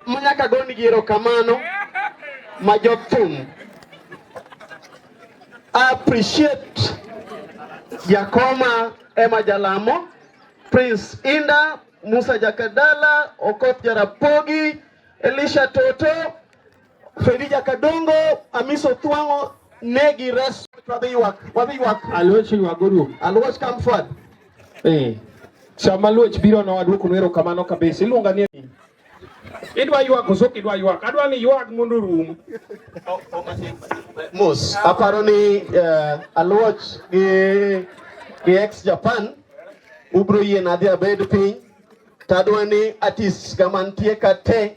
manyaka gonigi erokamano ma jothum appreciate jakoma ema jalamo prince inda musa jakadala okoth jarapogi elisha toto Fedija Kadongo, Amiso Tuango, Negi Res, Wabiwak, Wabiwak. Aluoch Wagoru. Aluoch come forward. Eh. Sama Luoch biro na waduoko nwero kamano kabisa. Iluonga ni Idwa ywak koso idwa ywak? Adwa ni ywak mondo rum. Mos, aparo ni uh, Aluoch gi gi ex Japan ubro yien adhi abed piny tadwa ni artist kamantie ka te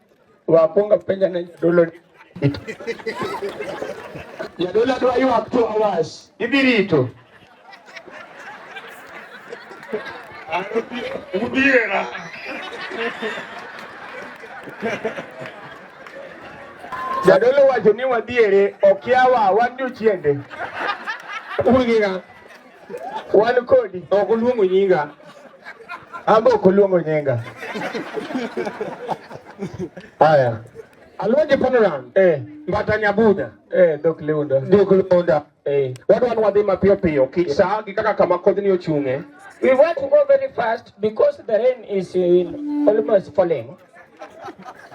Wapunga penja na jadolo. Jadolo dwa ywak two hours. Idhi rito. Udiera. Jadolo wacho ni wadhiere okiawa wan jochiende. Ugiga. Wan kodi. Ok oluongo nyinga. Ambe ok oluongo nyinga. Haya. Alonje Panoran. Eh. Mbata Nyabuda. Eh, Dok Leunda. Dok Leunda. Eh. Wadwan wadhi mapiyo piyo. Kik saa gi kaka kama kodhni ochung'e. We want to go very fast because the rain is in almost falling.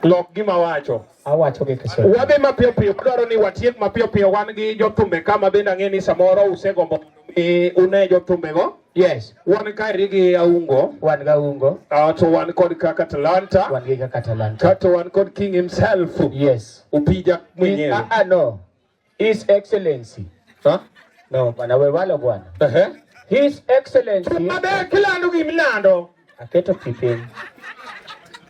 Lok gima wacho. awacho gi Kiswahili. Wadhi mapiyo piyo, dwaro ni watiek mapiyo piyo. Wan gi jothumbe kama bende ang'e ni samoro usegombo e, une go. Yes. Wan kaeri gi Aungo. Wan ga Aungo. Uh, to wan kod kaka Talanta. Wan gi kaka Talanta. Kato wan kod King himself. Yes. Upija mwenyewe. Ah, ah no. His Excellency. Huh? No, bwana we walo bwana. Uh -huh. His Excellency. Tumabe kila ndugu mlando. Aketo kipeni.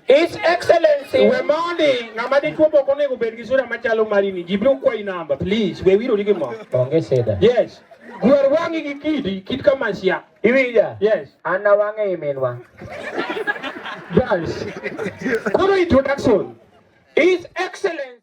His Excellency. We mondi ng'ama dichuo boko onego obed gi sura machalo marini. Ji biro kwayi namba, please. We wiro gi mo. Onge seda. Yes. Gwer wang'i gi kidi, kit kama sia. Iwinja? Yes. An na wang'e iminwa. Yes. Koro introduction. His Excellency.